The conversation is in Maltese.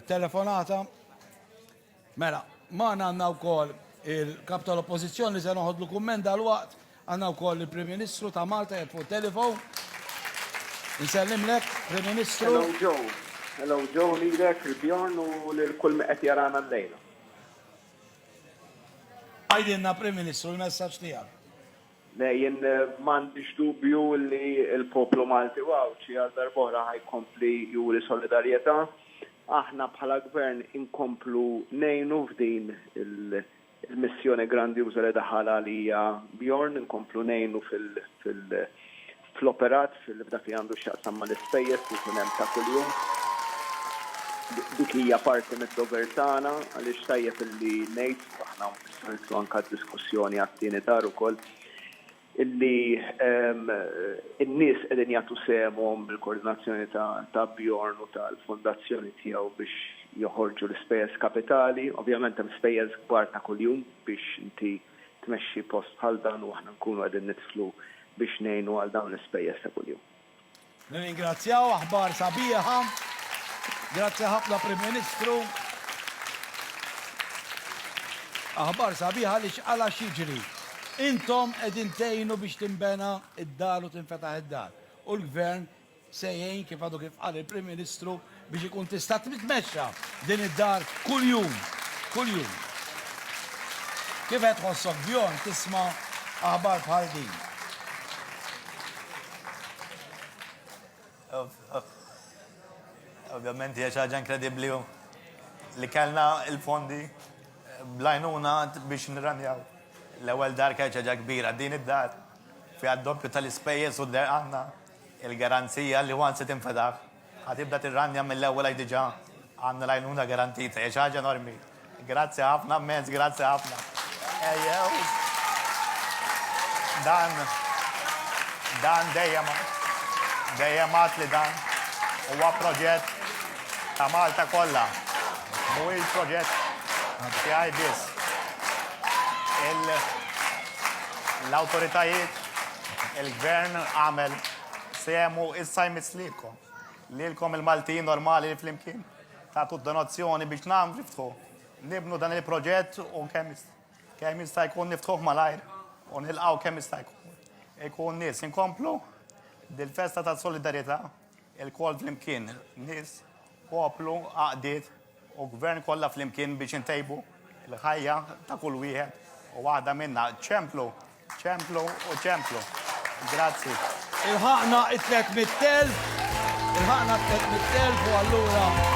Telefonata. Mela, ma għandna wkoll il-kap tal-oppożizzjoni se noħodlu kumment dal-waqt, għandna wkoll il-Prim Ministru ta' Malta jgħid fuq telefon. Nsellimlek, Prim Ministru. Hello Joe. Hello Joe lilek, il-Bjorn u lil kull meqed jarana l-lejla. Għajdilna Prim Ministru l-messaġġ tiegħek. Le, jien m'għandix dubju li l-poplu Malti u Għawdxi għal darb'oħra ħa jkompli juri solidarjetà. Aħna bħala Gvern inkomplu ngħinu f'din il-missjoni grandjuża li daħal għalija Bjorn, inkomplu ngħinu fil, fl-operat f'dak li għandu x'jaqsam mal-ispejjeż li jkun hemm ta' kuljum. Dik hija parti mid-dover tagħna għaliex tajjeb illi ngħid, u aħna nistgħu nidħlu anke għad-diskussjoni għat-tieni dar ukoll, illi n-nies qegħdin jagħtu sehemhom bil-koordinazzjoni ta' Bjorn u tal-fondazzjoni tiegħu biex joħorġu l-ispejjeż kapitali. Ovvjament hemm spejjeż kbar ta' kuljum biex inti tmexxi post bħal dan u aħna nkunu qegħdin nidħlu biex ngħinu għal dawn l-ispejjeż ta' kuljum. Nirringrazzjaw, aħbar sabiħa. Grazzi ħafna Prim Ministru. Aħbar sabiħa għaliex għal għax jiġri. Intom qegħdin tgħinu biex tinbena id-dar u tinfetaħ id-dar. U l-Gvern se jgħin, kif għadu kif qal il-Prim Ministru, biex ikun tista' titmexxa din id-dar kuljum, kuljum. Kif qed tħossok bjorn tisma' aħbar bħal din? Ovvjament hija xi ħaġa inkredibbli li kellna l-fondi blajnuna biex nirranjaw l-ewwel dar kien ħaġa kbira din id-dar fiha d-doppju tal-ispejjeż u d-derqanna Il-garanzija li once tinfetaħ ħa tibda tirranja mill-ewwel għax diġa għandna l-għajnuna garantita hija xi ħaġa enormi. Grazzi ħafna mmens, grazzi ħafna. Ejjew dan dan dejjem dejjem għad li dan huwa proġett ta' Malta kollha. Mhuwiex proġett tiegħi biss. L-awtoritajiet Il-gvern għamel semu issa jmiss lilkom. Lilkom il-Maltin normali li flimkien. Tatu donazzjoni biex nam niftħu. Nibnu dan il-proġett u kemm kemm jista' jkun niftħuh malajr u nilqgħu kemm jista' jkun. Ikun nies inkomplu bil-festa ta' solidarjetà. Ilkoll flimkien, nies, poplu, għaqdiet u gvern kollha flimkien biex intejbu l-ħajja ta' kull wieħed u waħda minna. Ċemplu, ċemplu u ċemplu. Grazzi. Ilħaqna it-300,000, ilħaqna t-300,000 u allura